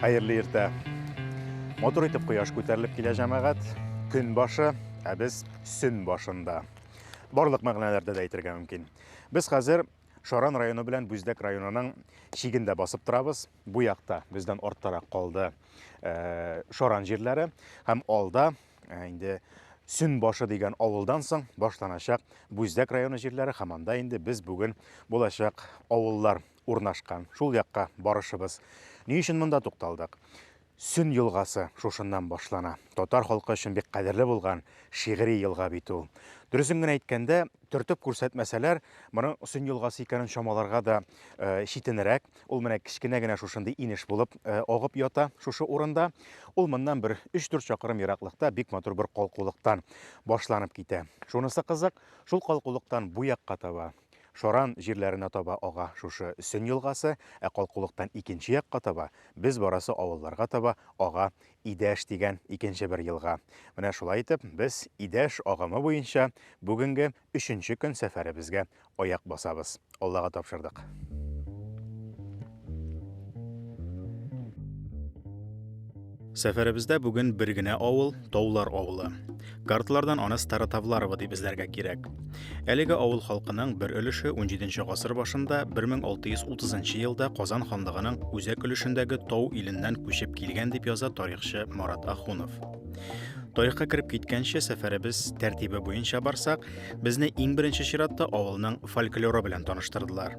Хәерле иртә. Матур итеп кояш күтәрелеп килә җәмәгать. Көн башы, ә без сөн башында. Барлык мәгънәләрдә дә әйтергә мөмкин. Без хәзер Шаран районы белән Бүздәк районының шигендә басып торабыз. Бу якта бездән арттарак калды э, Шаран җирләре һәм алда э, инде Сүн башы дигән авылдан соң башланачак Бүздәк районы җирләре һәм анда инде без бүген булачак авыллар урнашкан, шул якка барышыбыз. Ни өчен монда тукталдык? Сөн елгасы шушыннан башлана. Татар халкы өчен бик кадерле булган шигъри елга бит ул. Дөресен генә әйткәндә, төртеп күрсәтмәсәләр, моның Сөн елгасы икәнен чамаларга да читенрәк. Ул менә кечкенә генә шушындый инеш булып агып ята шушы урында. Ул моннан бер 3-4 чакрым ераклыкта бик матур бер калкулыктан башланып китә. Шунысы кызык, шул калкулыктан бу якка таба, Шаран җирләренә таба ага шушы Сөн елгасы, ә калкулыктан икенче якка таба, без барасы авылларга таба ага Идәш дигән икенче бер елга. Менә шулай итеп, без Идәш агымы буенча бүгенге өченче көн сәфәребезгә аяк басабыз. Аллага тапшырдык. Сәфәребездә бүген бер генә авыл, Таулар авылы. Картлардан аны Старотавларова дип эзләргә кирәк. Әлеге авыл халкының бер өлеше 17 гасыр башында 1630 елда Казан ханлыгының үзәк өлешендәге Тау иленнән күчеп килгән дип яза тарихчы Марат Ахунов. Тарихка кереп киткәнче сәфәребез тәртибе буенча барсак, безне иң беренче чиратта авылның фольклоры белән таныштырдылар.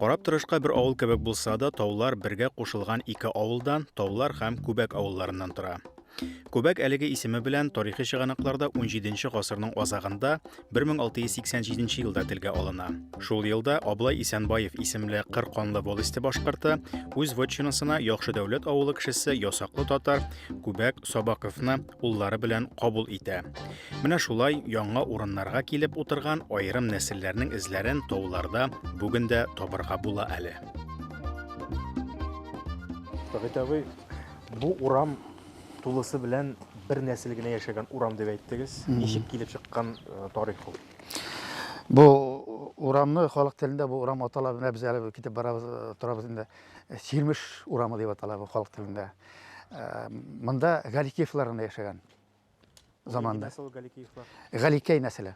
Карап торышка бер авыл кебек булса да, таулар бергә кушылган ике авылдан, Таулар һәм Күбәк авылларыннан тора. Күбәк әлеге исеме белән тарихи чыганакларда 17 гасырның азагында 1687 елда телгә алына. Шул елда Аблай Исәнбаев исемле кыр канлы волосте башкорты үз вотчинасына яхшы дәүләт авылы кешесе ясаклы татар Күбәк Сабаковны уллары белән кабул итә. Менә шулай яңа урыннарга килеп утырган аерым нәселләрнең эзләрен тауларда бүген дә табырга була әле. Табит абый, бу урам тулысы белән бер нәсел генә яшәгән урам дип әйттегез. Ничек килеп чыккан э, тарих ул? Бу урамны халык телендә бу урам атала, менә без әле китеп барабыз, э, торабыз инде. Сирмеш урамы дип атала бу халык телендә. Э, монда Галикеевлар гына яшәгән заманда. Нәсел Галикеевлар. Галикей нәселе.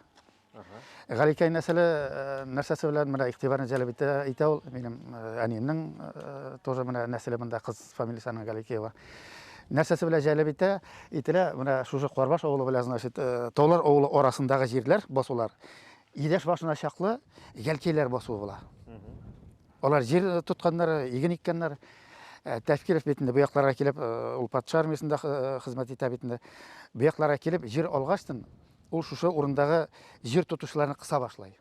Галикей нәселе э, нәрсәсе белән менә игътибарны җәлеп итә, итә ул минем э, әниемнең тоже менә нәселе монда кыз фамилиясенең Галикеева. Нәрсәсе белән җәлеп итә, ителә менә шушы Карбаш авылы белән значит Таулар авылы арасындагы җирләр басулар. Идәш башына чаклы Галикейләр басуы була. Алар җир тотканнар, иген иккәннәр. Э, Тәфкиров бит инде бу якларга килеп, э, ул патша армиясендә э, хезмәт итә бит инде. Бу якларга килеп җир алгачтын, ул шушы урындагы җир тотучыларны кыса башлый.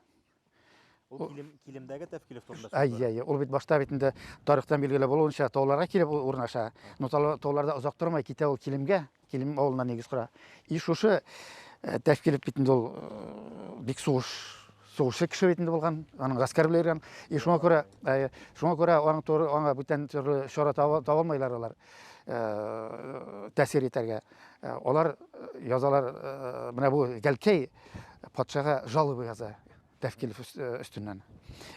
Ул килем, килемдәге тәфкилев турында Әй, сүз әй, ул бит башта бит инде тарихтан билгеле булуынча, тауларга килеп ул урнаша. Но тау- тауларда озак тормай китә ул килемгә. Килем авылына нигез кора. И шушы тәш килеп бит инде ул бик сугыш сугышчы кеше бит инде булган, аның гаскәр белән йөргән. И шуңа күрә шуңа күрә аның туры аңа бүтән төрле чара таба алмыйлар алар. Тәсир итәргә. Алар язалар менә бу Гәлкәй патшага жалобы яза. Тәфкилев өстеннән.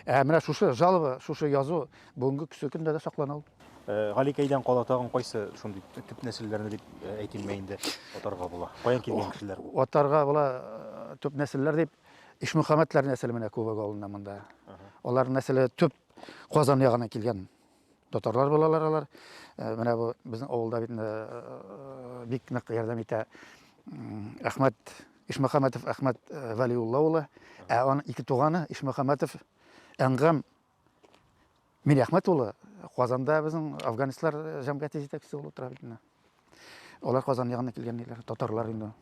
Ә менә шушы жалоба, шушы язу бүгенге көсө көндә дә саклана ул. Галикәйдән кала тагын кайсы шундый төп нәселләрне дип әйтимме инде атарга була? Каян килгән кешеләр? Атарга була төп нәселләр дип Ишмөхәммәтләр нәселе менә күбәк авылында монда. Алар нәселе төп Казан ягына килгән. Татарлар булалар алар. Э, менә бу безнең авылда бит э, бик нык ярдәм итә Әхмәт Ишмөхәмәтов Әхмәт э, Вәлиулла улы. Ә аның ике туганы Ишмөхәмәтов Әнгам Мирәхмәт улы Казанда безнең афганистлар җәмгыяте җитәкчесе булып тора бит. Алар Казан ягыннан килгән диләр, татарлар инде.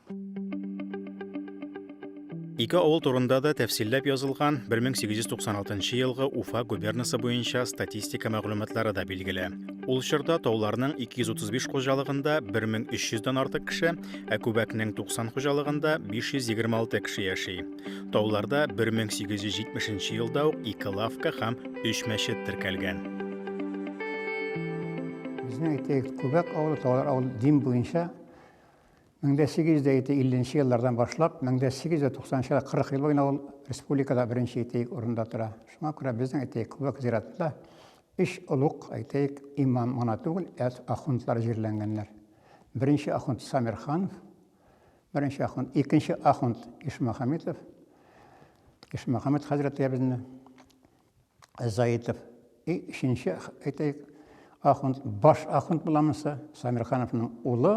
Ике авыл турында да тәфсилләп язылган 1896 елгы Уфа губернасы буенча статистика мәгълүматлары да билгеле. Ул чорда тауларның 235 хуҗалыгында 1300 дан артык кеше, ә Күбәкнең 90 хуҗалыгында 526 кеше яши. Тауларда 1870 елда ук ике лавка һәм өч мәчет теркәлгән. Безнең әйтәйек, Күбәк авылы Таулар авыл дин буенча 1850 еллардан башлап 1890 40 ел буена ул республикада беренче әйтәйек урында тора. Шуңа күрә безнең әйтәйек Күбәк зиратында өч олуг әйтәйек имам гына түгел, ә ахундлар җирләнгәннәр. Беренче ахунд Самирхан, Беренче ахунд, икенче ахунд Ишмөхәммитов, Ишмөхәммит хәзрәтләребезне, Заитов. И өченче, әйтәйек, ахунд, баш ахунд буламынса, Самирхановның улы,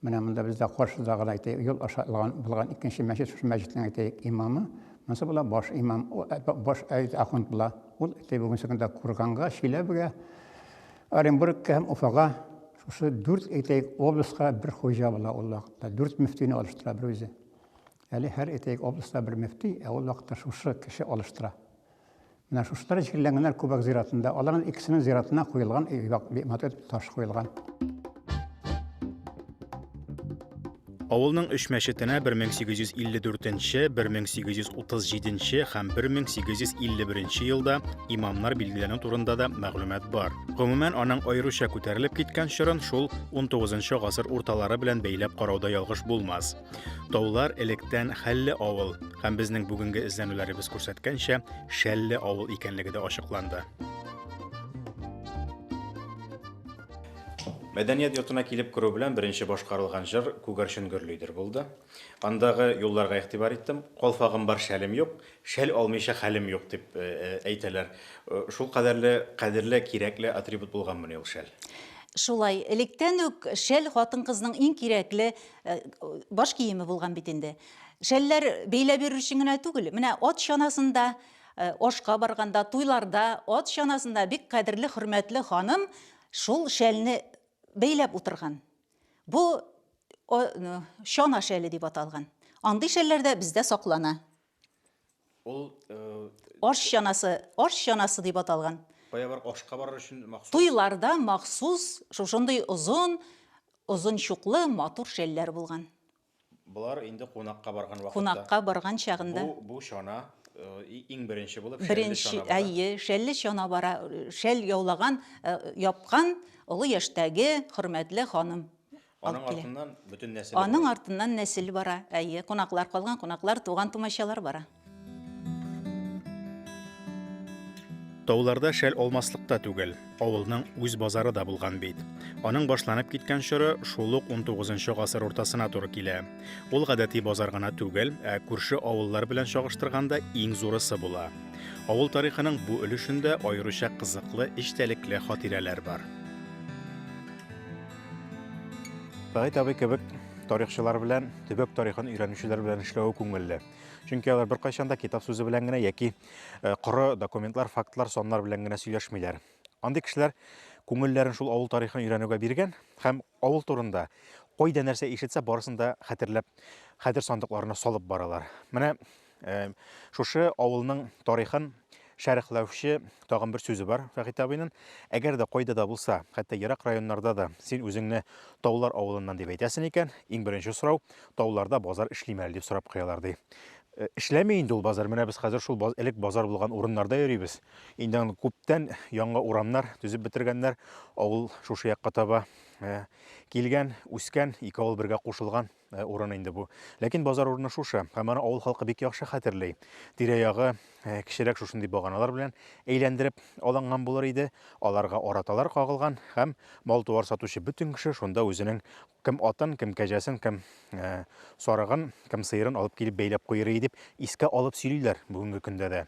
менә монда бездә каршыда гына әйтәйек, юл аша алган булган икенче мәчет, шушы мәчетнең әйтәйек, имамы, монысы була баш имам, э, баш ахунд була. Ул әйтәйек, бүгенге көндә Курганга, Чиләбегә, Оренбургка һәм Уфага Шушы дүрт, әйтәйек, обласка бер хуҗа була ул вакытта. Дүрт мөфтине алыштыра бер үзе. Әле һәр, әйтәйек, областа бер мөфти, ә ул вакытта шушы кеше алыштыра. Менә шушылар җирләнгәннәр Күбәк зиратында. Аларның икесенең зиратына куелган матур таш куелган. Авылның өч мәчетенә 1854 нче, 1837 нче һәм 1851 нче елда имамнар билгеләнү турында да мәгълүмат бар. Гомумән, аның аеруча күтәрелеп киткән чорын шул 19 нчы гасыр урталары белән бәйләп карауда ялгыш булмас. Таулар электән Хәлле авыл һәм безнең бүгенге эзләнүләребез күрсәткәнчә Шәлле авыл икәнлеге дә ачыкланды. Мәдәният йортына килеп керү белән беренче башкарылган җыр Күгәрчен гөрлидер булды. Андагы юлларга игътибар иттем. Калфагым бар, шәлем юк, шәл алмыйча хәлем юк, дип әйтәләр. Шул кадәрле кадерле, кирәкле атрибут булганмыни ул шәл? Шулай, электән үк шәл хатын-кызның иң кирәкле баш киеме булган бит инде. Шәлләр бәйләп йөрер өчен генә түгел, менә ат чанасында Ашка барганда, туйларда, ат чанасында бик кадерле, хөрмәтле ханым шул шәлне бәйләп утырган. Бу чана шәле дип аталган. Андый шәлләр дә бездә саклана. Ул аш чанасы, аш чанасы дип аталган. Кая бар ашка барыр өчен махсус? Туйларда махсус шушындый озын, озын чуклы матур шәлләр булган. Болар инде кунакка барган вакытта. Кунакка барган чагында. Бу, бу чана иң беренче булып шәлле чана бара. Беренче, әйе, шәлле чана бара, шәл яулаган, япкан олы яшьтәге хөрмәтле ханым. Аның артыннан бөтен нәсел. Аның артыннан нәсел бара, әйе, кунаклар калган, кунаклар, туган-тумачалар бара. Тауларда шәл алмаслык та түгел, авылның үз базары да булган бит. Аның башланып киткән чоры шул ук 19 гасыр уртасына туры килә. Ул гадәти базар гына түгел, ә күрше авыллар белән чагыштырганда иң зурысы була. Авыл тарихының бу өлешендә аеруча кызыклы эчтәлекле хатирәләр бар. Сәгыйть абый кебек тарихчылар белән, төбәк тарихын өйрәнүчеләр белән эшләве күңелле. Чөнки алар беркайчан да китап сүзе белән генә яки коры документлар, фактлар, саннар белән генә сөйләшмиләр. Андый кешеләр күңелләрен шул авыл тарихын өйрәнүгә биргән һәм авыл турында кайда нәрсә ишетсә барысын да хәтерләп хәтер сандыкларына салып баралар. Менә шушы авылның тарихын Шәрехләүче тагын бер сүзе бар Фәхит абыйның. Әгәр дә кайда да булса, хәтта ерак районнарда да син үзеңне Таулар авылыннан дип әйтәсен икән, иң беренче сорау, Тауларда базар эшлиме әле дип сорап куялар, ди. Э, эшләми инде ул базар. Менә без хәзер шул баз, элек базар булган урыннарда йөрибез. Инде аны күптән яңа урамнар төзеп бетергәннәр. Авыл шушы якка таба э, килгән, үскән, ике авыл бергә кушылган. Э, урыны инде бу. Ләкин базар урыны шушы, һәм аны авыл халкы бик яхшы хәтерли. Тирә-ягы э, кечерәк шушындый баганалар белән әйләндереп алынган булыр иде. Аларга араталар кагылган һәм мал-туар сатучы бөтен кеше шунда үзенең кем атын, кем кәҗәсен, кем э, сарыгын, кем сыерын алып килеп бәйләп куйыр иде дип искә алып сөйлиләр бүгенге көндә дә.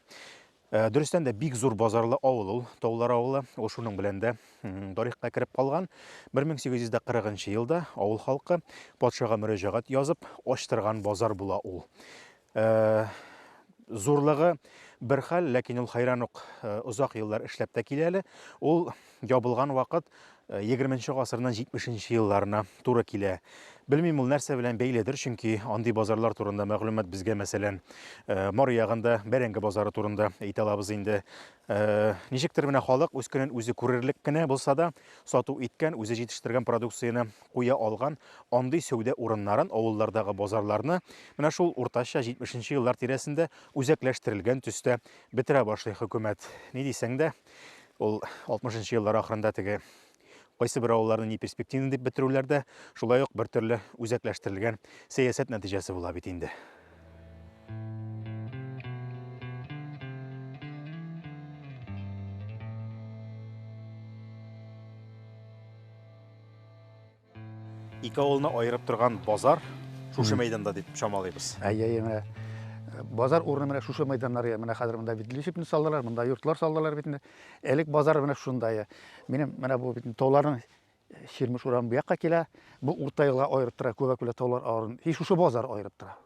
Э, дөрестән дә бик зур базарлы авыл ул таулар авылы ул шуның белән дә тарихка кереп калган 1840 елда авыл халкы патшага мөрәҗәгать язып ачтырган базар була ул э, зурлыгы бер хәл ләкин ул хайран ук э, озак еллар эшләп тә килә әле ул ябылган вакыт егерменче гасырның җитмешенче елларына туры килә. Белмим, ул нәрсә белән бәйледер, чөнки андый базарлар турында мәгълүмат безгә, мәсәлән, Мары ягында Бәрәңге базары турында әйтә алабыз инде. Ничектер менә халык үз көнен үзе күрерлек кенә булса да, сату иткән, үзе җитештергән продукцияне куя алган андый сәүдә урыннарын, авыллардагы базарларны менә шул уртача җитмешенче еллар тирәсендә үзәкләштерелгән төстә бетерә башлый хөкүмәт. Ни дисәң дә, Ул 60 нчы еллар ахырында теге кайсы бер авылларны ни перспективны дип бетерүләр дә шулай ук бер төрле үзәкләштерелгән сәясәт нәтиҗәсе була бит инде. Ике авылны аерып торган базар шушы мәйданда дип чамалыйбыз. Әйе, әйе, менә э, базар урыны менә шушы мәйданнар я. Менә хәзер монда бит лишипне салдылар, монда йортлар салдылар бит инде. Элек базар менә шунда я. Минем менә бу бит тауларның Ширмеш урам бу якка килә. Бу урта елга аерып тора, Күбәкүлә таулар авырын. Һи шушы базар аерып тора.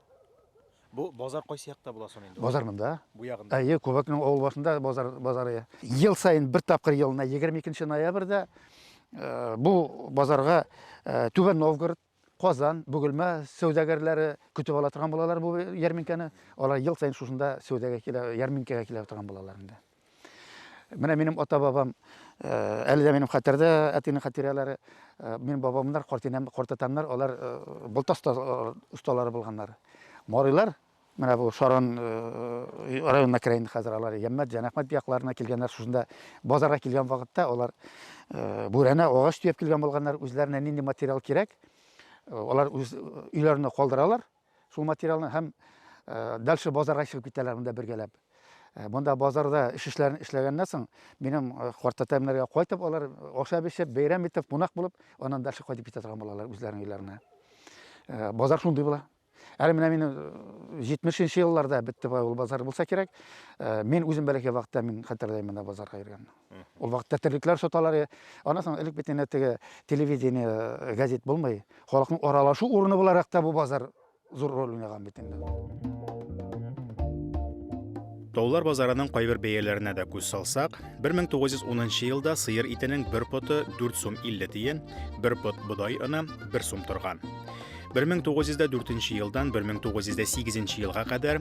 Бу базар кайсы якта була соң инде? Базар монда. Бу ягында. Әйе, Кубакның авыл башында базар базары. Ел саен бер тапкыр елына 22 ноябрьдә э, бу базарга э, Түбән Новгород, Казан, Бөгелмә сәүдәгәрләре көтеп ала торган булалар бу ярминкәне. Алар ел саен шушында сәүдәгә килә, ярминкәгә килә торган булалар инде. Менә минем ата-бабам, әле дә минем хәтердә әтинең хатирәләре. Минем бабамнар, картинәм, картатамнар, алар болтас осталары булганнар. Марыйлар, менә бу Шаран районына керә инде хәзер алар. Яммәт, Җанәхмәт якларына килгәннәр. Шушында базарга килгән вакытта алар бүрәнә, агач төяп килгән булганнар. Үзләренә нинди материал кирәк, алар үз өйләренә калдыралар. Шул материалны һәм дальше базарга чыгып китәләр монда бергәләп. Монда базарда эш эшләрен эшләгәннән соң, минем картәтәмнәргә кайтып алар ашап эчеп, бәйрәм итеп, кунак булып, аннан дальше кайтып китә торган булалар үзләренең өйләренә. Базар шундый була. Әле менә мин 70-нче елларда бетте бай ул базар булса кирәк. Мин үзем бәләкәй вакытта мин хәтерләйм монда базарга йөргәнне. Ул вакытта терлекләр соталар. Аннан соң элек бит инде теге телевидение, э, газет булмый. Халыкның аралашу урыны буларак та бу базар зур роль уйнаган бит инде. Таулар базарының кайбер бәяләренә дә күз салсак, 1910 елда сыер итенең бер поты 4 сум 50 тиен, бер пот бодай оны 1 сум торган. 1904 елдан 1908 елга кадәр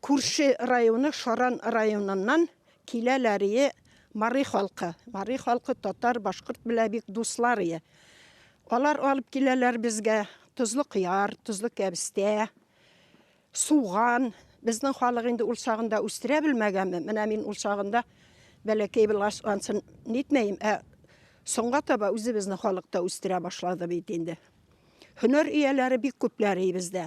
Күрше районы Шаран районыннан килә ләрие Мари халкы. Мари халкы татар, башкорт белә бик дусларые. Алар алып киләләр безгә тозлы кыяр, тозлы кәбестә, суган. Безнең халык инде ул чагында үстерә белмәгәнме, менә мин ул чагында бәләкәй булгач ансын нитмәем, ә соңга таба үзебезнең халык та үстерә башлады бит инде. Һөнәр ияләре бик күп ләрие бездә.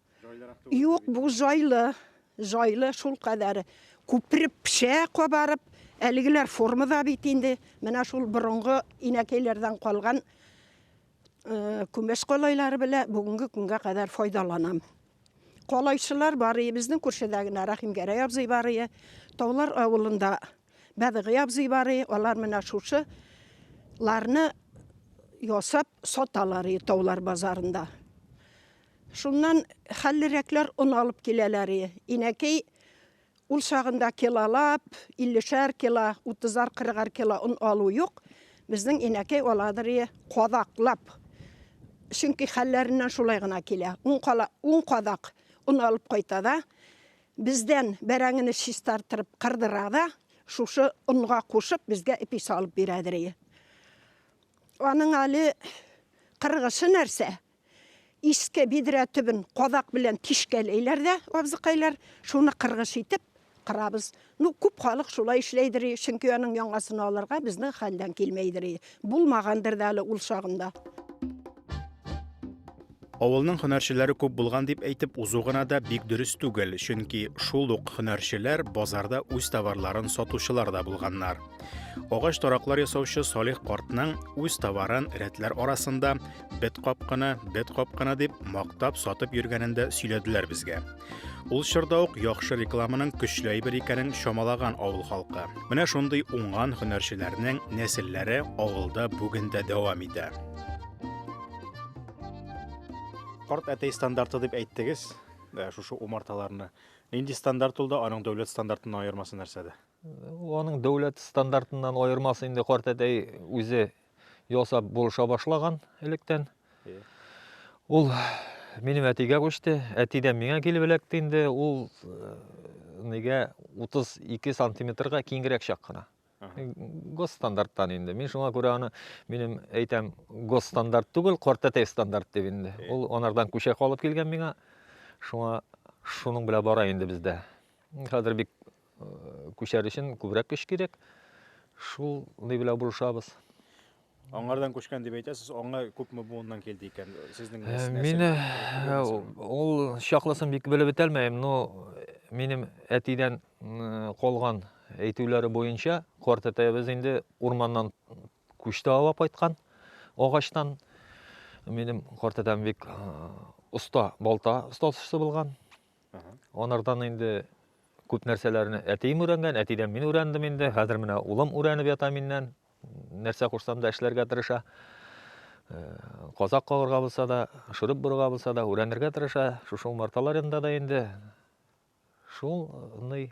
Юк, бу җайлы. Җайлы шул кадәр күпереп пешә, кабарып. Әлегеләр формада бит инде. Менә шул борынгы инәкәйләрдән калган э, күмәч калайлары белән бүгенге көнгә кадәр файдаланам. Калайчылар бар, безнең күршедә генә Рәхимгәрәй абзый бар, Таулар авылында Бәдыгый абзый бар, алар менә шушы ларны ясап саталар Таулар базарында. Шуннан хәллерәкләр он алып киләләр. Инәкәй ул чагында килолап, иллешәр кило, утызар-кырыгар кило он алу юк. Безнең инәкәй аладыр кадаклап. Чөнки хәлләреннән шулай гына килә. Ун кадак он алып кайта да, бездән бәрәңгене чистартырып кырдыра да, шушы онга кушып, безгә эпи салып бирәдер. Аның әле кыргышы нәрсә, Иске бидрә төбен кадак белән тишкәләйләр дә абзыкайлар, шуны кыргыч итеп кырабыз. Ну, күп халык шулай эшләйдер, чөнки аның яңасын алырга безнең хәлдән килмәйдер. Булмагандыр да әле ул чагында. Авылның һөнәрчеләре күп булган дип әйтеп узу гына да бик дөрес түгел, чөнки шул ук һөнәрчеләр базарда үз товарларын сатучылар да булганнар. Агач тараклар ясаучы Салих картның үз товарын рәтләр арасында бет капканы, бет капканы дип мактап сатып йөргәнен дә сөйләделәр безгә. Ул чорда ук яхшы рекламаның көчле әйбер икәнен чамалаган авыл халкы. Менә шундый уңган һөнәрчеләрнең нәселләре авылда бүген дә дәвам итә. Карт әтәй стандарты дип әйттегез, э, шушы умарталарны. Нинди стандарт ул да, аның дәүләт стандартыннан аермасы нәрсәдә? Аның дәүләт стандартыннан аермасы инде карт әтәй үзе ясап булыша башлаган электән. Ул минем әтигә күчте, әтидән миңа килеп эләкте инде. Ул э, нигә 32 сантиметрга киңрәк чак кына. Госстандарттан инде. Мин шуңа күрә аны минем әйтәм госстандарт түгел, кортәтәй стандарт дип инде. Ул анардан күчә калып килгән миңа. Шуңа шуның белән бара инде бездә. Хәзер бик Күчәр өчен күбрәк көч кирәк. Шул ни белән булышабыз. Аңардан күчкән дип әйтәсез, аңа күпме буыннан килде икән? Сезнең Мин ул чаклысын бик белеп бетәлмәем, но минем әтидән калган әйтүләре буенча, карт әтәебез инде урманнан күчте ава кайткан агачтан. Минем карт әтәм бик оста балта остасы булган. Анардан инде күп нәрсәләрне әтием өйрәнгән, әтидән мин өйрәндем инде. Хәзер менә улым өйрәнеп ята миннән. Нәрсә кушсам да эшләргә тырыша. Э, казак кагырга булса да, шүреп борырга булса да, өйрәнергә тырыша. Шушы умарталар янында да инде шул ный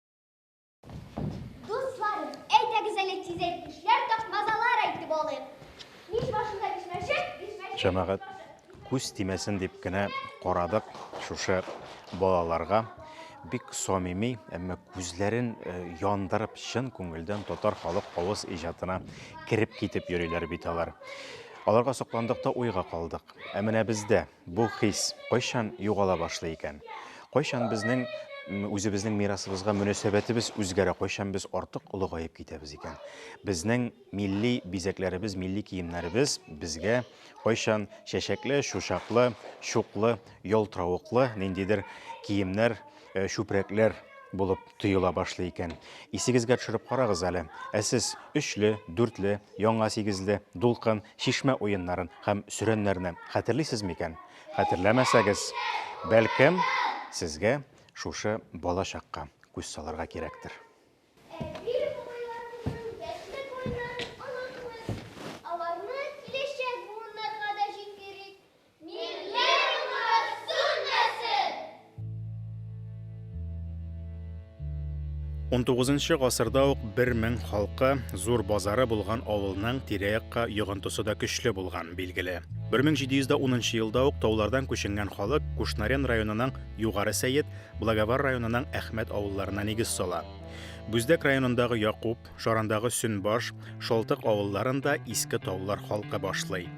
Дусларым, әйдәгез әле тизәк эшләр тапмазалар әйтеп алыйк. Мич башында бишмәчек, бишмәчек. Җәмәгать күз тимәсен дип кенә карадык шушы балаларга бик самими, әмма күзләрен э, яндырып, чын күңелдән татар халык авыз иҗатына кереп китеп йөриләр бит алар. Аларга сокландык та уйга калдык. Ә менә бездә Бу хис кайчан югала башлый икән? Кайчан безнең үзебезнең мирасыбызга мөнәсәбәтебез үзгәрә, кайчан без артык олыгаеп китәбез икән? Безнең милли бизәкләребез, милли киемнәребез безгә кайчан чәчәкле, чучаклы, чуклы, ялтыравыклы ниндидер киемнәр э, чүпрәкләр булып тоела башлый икән. Исегезгә төшереп карагыз әле. Ә сез өчле, дүртле, яңа сигезле, дулкын, шишмә уеннарын һәм сөрәннәрне хәтерлисез микән? Хәтерләмәсәгез, бәлкем, сезгә шушы балачакка күз салырга кирәктер. Унтугызынчы гасырда ук бер мең халкы, зур базары булган авылның тирә-якка йогынтысы да көчле булган, билгеле. 1710 елда ук таулардан күченгән халык Кушнарен районының Югары Сәет, Благовар районының Әхмәт авылларына нигез сала. Бүздәк районындагы Якуб, Шарандагы Сөнбаш, Шалтык авылларын да иске таулар халкы башлый.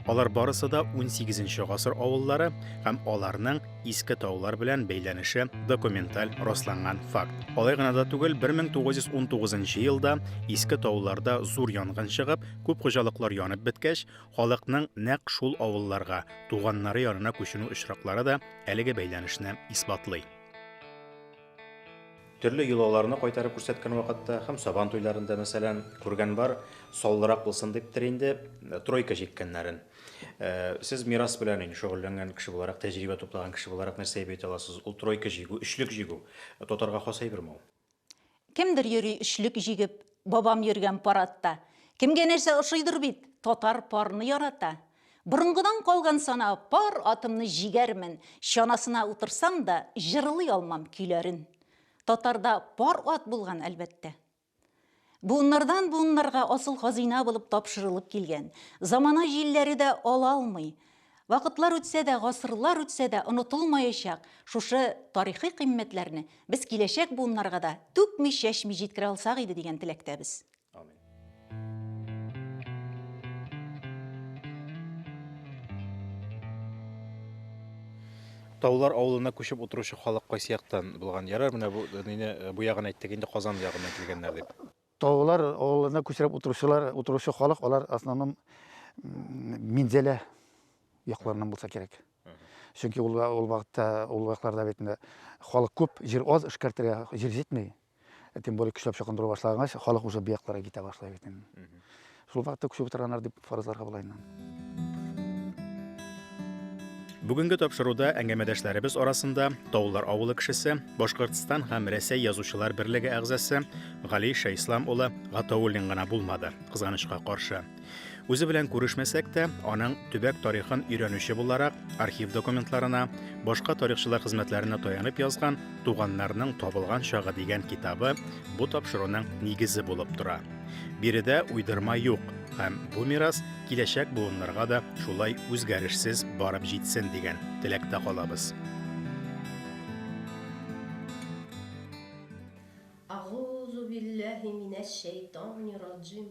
Алар барысы да 18 гасыр авыллары һәм аларның иске таулар белән бәйләнеше документаль расланган факт. Алай гына да түгел, 1919 елда иске тауларда зур янгын чыгып, күп хуҗалыклар янып беткәч, халыкның нәкъ шул авылларга, туганнары янына күченү очраклары да әлеге бәйләнешне исбатлый. Төрле йолаларны кайтарып күрсәткән вакытта һәм Сабан туйларында, мәсәлән, күргән бар, саллырак булсын диптер инде, тройка җиккәннәрен. Сез мирас белән инде шөгыльләнгән кеше буларак, тәҗрибә туплаган кеше буларак нәрсә әйбәт аласыз? Ул тройка җигү, өчлек җигү, татарга хас әйберме ул? Кемдер йөри өчлек җигеп, бабам йөргән парадта. Кемгә нәрсә ошыйдыр бит, татар парны ярата. Борынгыдан калган сана Пар атымны җигәрмен, чанасына утырсам да, җырлый алмам көйләрен. Татарда пар ат булган, әлбәттә. Буыннардан буыннарга асыл хазыйна булып тапшырылып килгән. Замана җилләре дә ала алмый. Вакытлар үтсә дә, гасырлар үтсә дә, онытылмаячак шушы тарихи кыйммәтләрне без киләчәк буыннарга да түкми-чәчми җиткерә алсак иде дигән теләктәбез. Амин. Таулар авылына күчеп утыручы халык кайсы яктан булган? Ярар, менә бу мине э, бу ягын әйттек инде Казан ягыннан килгәннәр дип. Таулар авылына күчереп утыручылар, утыручы халык алар основном Минзәлә якларыннан булса кирәк. Чөнки ул ул вакытта ул вакытларда бит халык күп, җир аз эшкәртергә җир җитми. Ә тем более көчләп чокындыру башлагач, халык уже бу якларга китә башлый бит инде. Шул вакытта күчеп утырганнар дип фаразларга була инде. Бүгенге тапшыруда әңгәмәдәшләребез арасында Таулар авылы кешесе, Башкортстан һәм Рәсәй язучылар берлеге әгъзасы Гали Шәйслам улы Гатауллин гына булмады, кызганычка каршы. Үзе белән күрешмәсәк тә, аның төбәк тарихын өйрәнүче буларак, архив документларына, башка тарихчылар хезмәтләренә таянып язган Туганнарның табылган чагы дигән китабы бу тапшыруның нигезе булып тора. Биредә уйдырма юк, һәм бу мирас киләчәк буыннарга да шулай үзгәрешсез барып җитсен дигән теләктә калабыз. Агузу билләһи минәш шәйтанир раджим.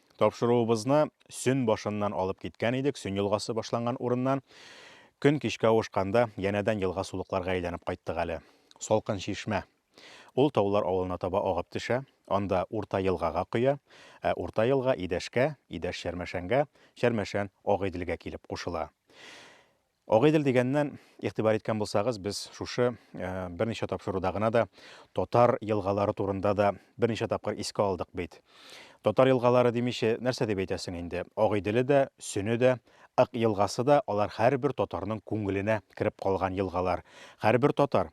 Тапшыруыбызны Сөн башыннан алып киткән идек, Сөн елгасы башланган урыннан. Көн кичкә авышканда, янәдән елга-сулыкларга әйләнеп кайттык әле. Салкын чишмә. Ул Таулар авылына таба агып төшә, анда Урта елгага коя, ә Урта елга Идәшкә, Идәш Чәрмәшәнгә, Чәрмәшән Агыйделгә килеп кушыла. Агыйдел дигәннән, игътибар иткән булсагыз, без шушы берничә тапшыруда гына да татар елгалары турында да берничә тапкыр искә алдык бит. Татар елгалары димичә, нәрсә дип әйтәсең инде? Агыйделе дә, Сөне дә, Ык елгасы да, алар һәрбер татарның күңеленә кереп калган елгалар. Һәрбер татар,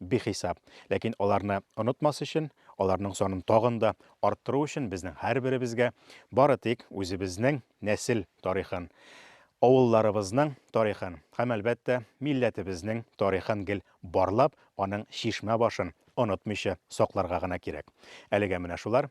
Бихисап. Ләкин аларны онытмас өчен, аларның санын тагын да арттыру өчен безнең һәрберебезгә бары тик үзебезнең нәсел тарихын, авылларыбызның тарихын һәм, әлбәттә, милләтебезнең тарихын гел барлап, аның чишмә башын онытмыйча сакларга гына кирәк. Әлегә менә шулар.